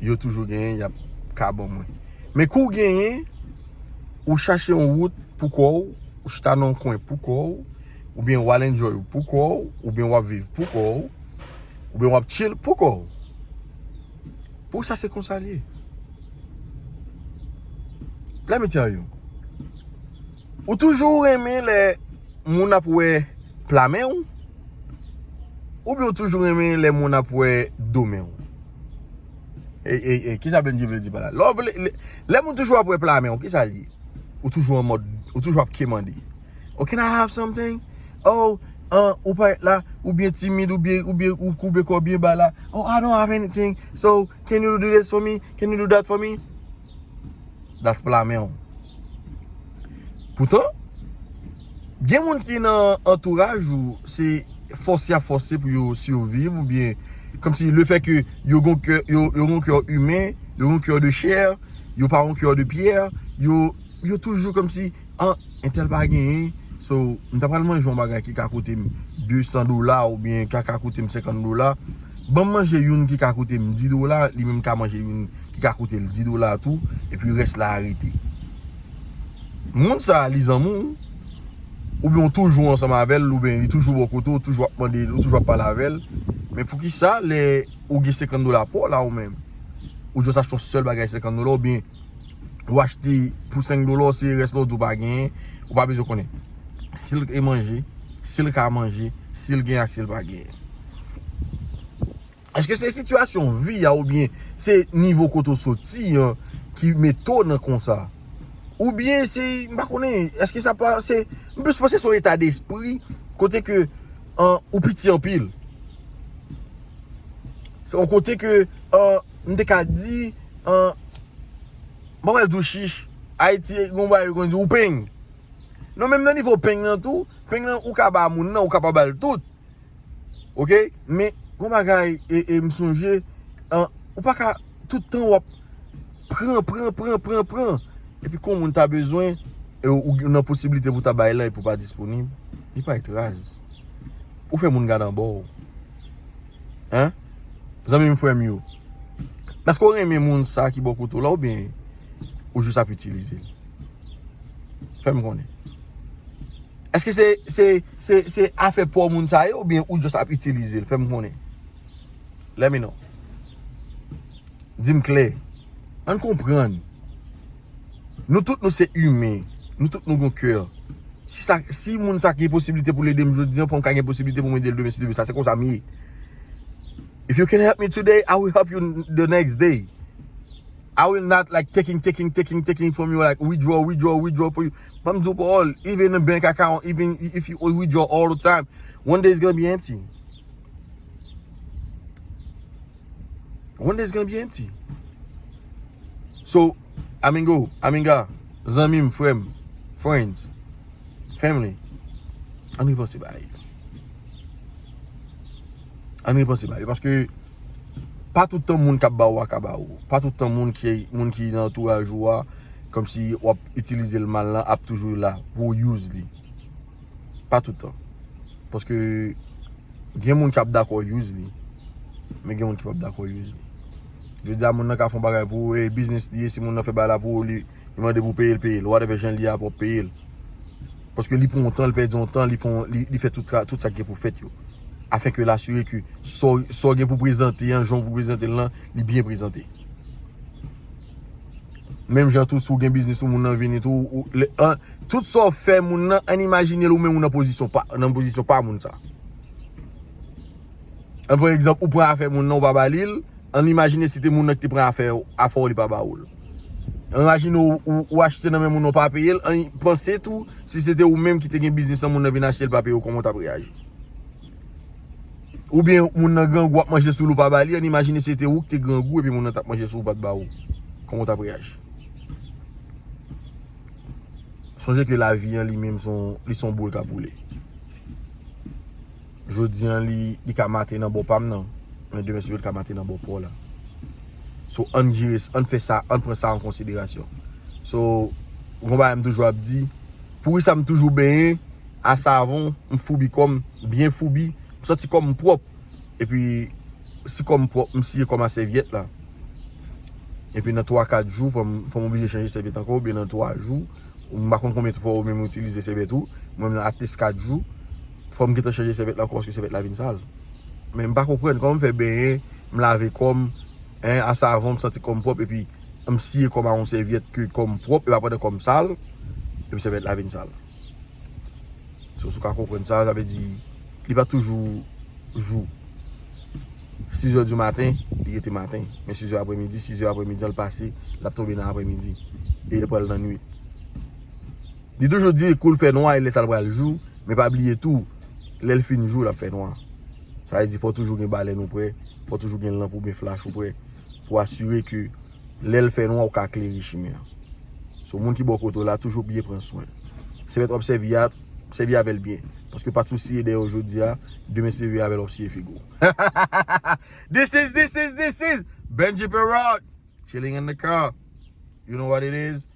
yo toujou genyen yap ka ban mwen. Men kou genyen, ou chache yon wout pou kò ou, ou chita nan yon kwen pou kò ou, oubyen wal enjoy ou pou kò ou, oubyen wap viv pou kò ou, oubyen wap chill pou kò ou. Pou sa se konsa li ye. Let me tell you. Ou toujou renmen lè moun ap wè pla men ou, oubyen ou toujou renmen lè moun ap wè do men ou. Ey ey ey kisa Bndye vle di pa la Lè moun toujou ap wè pla men w kisa l ye Ou toujou an mòd ou toujou ap kemande Oh can I have something Oh ou pa et la ou byen timid ou byen ou koube kò w byen ba la Oh I don't have anything so can you do this for me can you do that for me That's pla menw. Poutan, gen moun ki nan antouraj ou, se fòse yap fòse pou yo surviv ou byen, kòm si le fè ke yo gon kè, yo gon kè humain, yo gon kè de chè, yo pa gon kè de pierre, yo toujou kòm si. An, entèl pa genyen, so m ta pral manje yon bagay ki ka koute m 200 dola oubyen ki ka koute m 50 dola. Ban m manje youn ki ka koute m 10 dola, li menm ka manje youn ki ka koute l 10 dola tou, epi rès la a rete. Moun sa a, li zanmi w, oubyen ou toujou ansanm avè l, oubyen li toujou bò kote w, ou toujou ap mande, ou toujou ap pale avè l, men poukisa lè ou gen 50 dola pa w la ou menm, ou jis achte yon sèl bagay 50 dola oubyen. Ou achte pou 5 dola ou seye rès la ou di ou pa genyen. Ou pa bezwen konnen. Si l e manje, si l ka manje, si l genyen ak si l pa genyen. Eske se sitiyasyon vi a ou byen se nivo kote ou soti an ki mete w nan konsa? Ou byen se, m pa konnen, eske sa pa se, m plis panse se yon eta despri kote ke ou piti anpil. Se yon kote ke an. m te ka di an m pa pral di w chich ayiti gon bagay yo konn di ou peng non menm nan nivo peng nan tou peng nan ou ka ba moun nan ou ka pa bal tout ok men gon bagay e m sonje an ou pa ka tout tan w ap pran pran pran pran pran epi kon moun ta bezwen e ou gen nan posiblite pou ta bay la epi ou pa disponib li paret raz ou fè moun gad anba w. Hein Zanmi m frè m yo Eske w renmen moun sa ki bò kote w la ou byen ou jis ap itilize l Fè m konnen Eske se se se se afè pa w moun sa ye ou byen ou jis ap itilize l Fè m konnen Let me know Di m klè An n konprann Nou tout nou se imen, nou tout nou gon kè. Si moun sa gen posibilite pou l ede m jodi an, fò m ka gen posibilite pou m ede l demen si Dye vle. Sa se konsa m ye. If you can help me today, I will help you the next day. I will not like taking, taking, taking, taking from you like withdraw, withdraw, withdraw for you. Fò m di w pawòl, even a bank account, even if you withdraw all the time, one day it's gonna be empty. Rondez gen byen ti. So, Amingo, Aminga, zanmi m, frè m, friends, family, an nou panse ba yo. An nou panse ba yo. Paske, pa tout tan moun kap ba ou a ka ba ou. Pa tout tan moun ki nan antouraj ou a, kom si wap itilize l mal la, ap toujou la pou use li. Pa tout tan. Paske gen moun ki ap dakò use li. Men gen moun ki pap dakò use li. Je di a moun nan ka fon bagay pou ou. E biznis li e si moun nan fè bagay la pou ou li. Li mande pou peyel peyel. Ou a defen jen li a pou ou peyel. Paske li pon tan, li pèdi yon tan, li fon, li fè tout sa ki gen pou fèt yo. Afin ke l'assurer ke sa ou gen pou prezante, jan ou gen pou prezante lan, li byen prezante. Menm jan tou si w gen biznis ou moun nan vini tou, tout sa w fè moun nan, ann imajine l ou menm ou nan pozisyon pa, nan pozisyon pa moun sa. An pran egzanp, ou pran afè moun nan ou pa ba li l, ann imajine si te moun nan ki te pran afè w, afè w li pa ba ou l. Ann imajine ou achte nan men moun nan ou pa peye l, ann panse tou si se te ou menm ki te gen biznis lan moun nan vin achte l pa peye w kòman w t ap reyaji. Ou byen moun nan grangou ap manje sou li ou pa ba li an imajine se te ou ki te grangou epi moun nan t ap manje sou ou pa t ba ou kòman ou t ap reyaji. Sonje ke lavi an li menm li son boul k ap boule. Jodi an li ka mate nan bò pa m nan men demen se pou l ka mate nan bò pa w la. So ann jere sa, ann fè sa, ann pran sa an konsiderasyon. So yon bagay m toujou ap di, pouri sa m toujou benyen. a savon, m foubi kò m, byen foubi, m santi kò m pwòp. Epi, si kò m pwòp, m siye kò m a sèvyèt la. Epi nan 3, 4 jou, fò m oblije chanje sèvyèt ankò, oubyen nan 3 jou, m pa konn konbyen fwa ou menm ou itilize sèvyèt ou, mwen menm nan atleast 4 jou, fò m gentan chanje sèvyèt la ankò paske sèvyèt la vin sal. Men m pa konprann, kòman m fè benyen, m lave kò m, hein, a savon, m santi kò m pwòp, epi m siye kò m a yon sèvyèt ke kò m pwòp, epi apre nan kò m sal, epi sèvyèt la vin sal. So si w ka konprann sa, sa vle di li pa toujou jou. Sizè di maten, li rete maten. Men sizè apre midi, sizè apre midi an l pase, l ap tonbe nan apre midi. E l pral nan nwit. Li toujou di kou l fè nwa, lè sa l pral jou. Men pa bliye tou, lè l fin jou, l ap fè nwa. Sa vle di fò toujou gen balèn ou pre, fò toujou gen lanp ou byen flach ou pre. Pou asire ke Lèl fè nwa ou ka klere chimen an. So moun ki bò kote w la toujou byen pran swen l. Sevèt wap sèvi a, sèvi avèl byen. Paske pat sou siye dèyè w jodi a, demen seve avèl wap siye figo w. Hahahaha This is this is this is Benji Peralt Chilling in the car You know what it is.